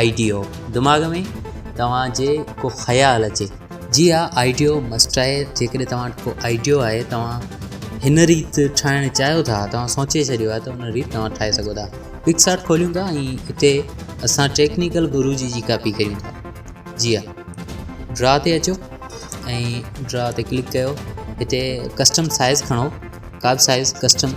آئيڊيو دماغ ۾ توهان جي ڪو خيال اچي جي ها آئيڊيو مسٽ آهي جيڪڏهن توهان وٽ ڪو آئيڊيو آهي توهان هن ريت ٺاهڻ چاهيو ٿا توهان سوچي ڇڏيو آهي ته ان ريت توهان ٺاهي سگهو ٿا پڪ ساٽ کوليون ٿا ۽ اتي اسان ٽيڪنيڪل گرو جي جي ڪاپي ڪريون ٿا جي ها ڊرا تي اچو ۽ ڊرا تي ڪلڪ ڪيو هتي ڪسٽم سائز کڻو ڪا به سائز ڪسٽم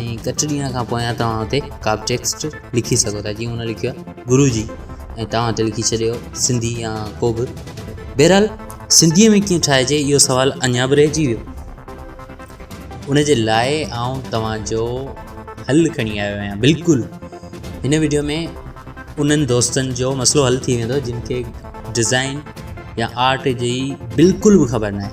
۽ ڪٽ ڏينهن کان پويان توهان اتي ڪا به ٽيڪسٽ لکي سگهو ٿا جيئن هن لکيو آهي گرو جي ۽ توهان اتي لکي ڇڏيو سنڌي يا ڪو به بهرحال سنڌيء ۾ ڪيئن ٺاهجي اهو سوال اڃا به رهجي ويو ان جي لاء آئون توهان جو حل کڻي آيو آهيان بلڪل هن ويڊيو ۾ انهن دوستن جو مسئلو حل ٿي ويندو جن کي ڊزائن يا آرٽ جي بلڪل به خبر ناهي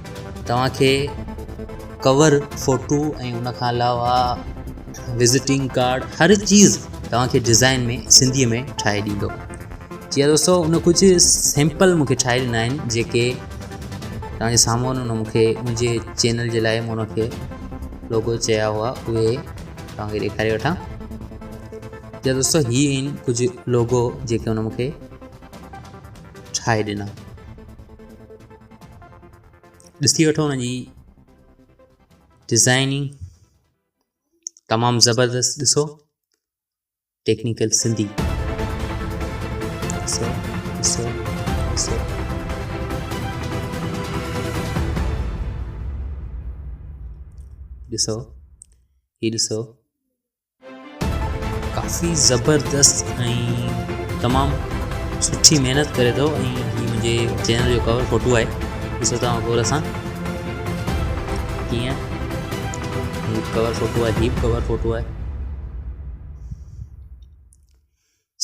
توهان کي ڪور فوٽو ۽ ان کان علاوه وزٽنگ ڪارڊ هر چيز توهان کي ڊزائن ۾ سنڌي ۾ ٺاهي ڏيندو جي دوستو ان ڪجهه سيمپل مونکي ٺاهي ڏنا آهن جيڪي توهان جي سامهون ان مونکي منهنجي چينل جي لاء مون ان کي لوگو چيا هئا اهي توهان کي ڏيکاري وٺان جي دوستو هي آهن ڪجهه لوگو جيڪي ان مونکي ٺاهي ڏنا ڏسي وٺو ان جي ڊزائننگ تمام زبردست ڏسو ٽيڪنيڪل سنڌي ڏسو ڏسو ڏسو ڏسو هي ڏسو ڪافي زبردست ۽ تمام سٺي محنت ڪري ٿو ۽ هي منهنجي چينل جو ڪور فوٽو آهي ڏسو توهان غور سان ڪيئن هي ڪور فوٽو آهي هي ڪور فوٽو آهي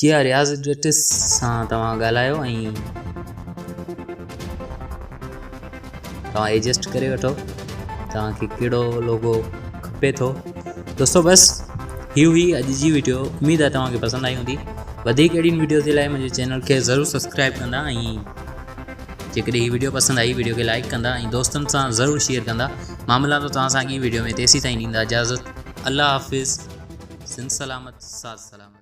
جي ها رياض ڊيٽس سان توهان ڳالهايو ۽ توهان ايجسٽ ڪري وٺو توهان کي ڪهڙو لوگو کپي ٿو دوستو بس هي هئي اڄ جي ويڊيو اميد آهي توهان کي پسند آئي هوندي وڌيڪ اهڙين ويڊيو جي لاء منهنجي چينل کي ضرور سبسڪرائب ڪندا ۽ جيڪڏهن هي ويڊيو پسند آئي ويڊيو کي لائڪ ڪندا ۽ دوستن سان ضرور شيئر ڪندا مان ملان ٿو توهان سان اڳي ويڊيو ۾ تيسي تائين ڏيندا اجازت الله حافظ سن سلامت سات سلامت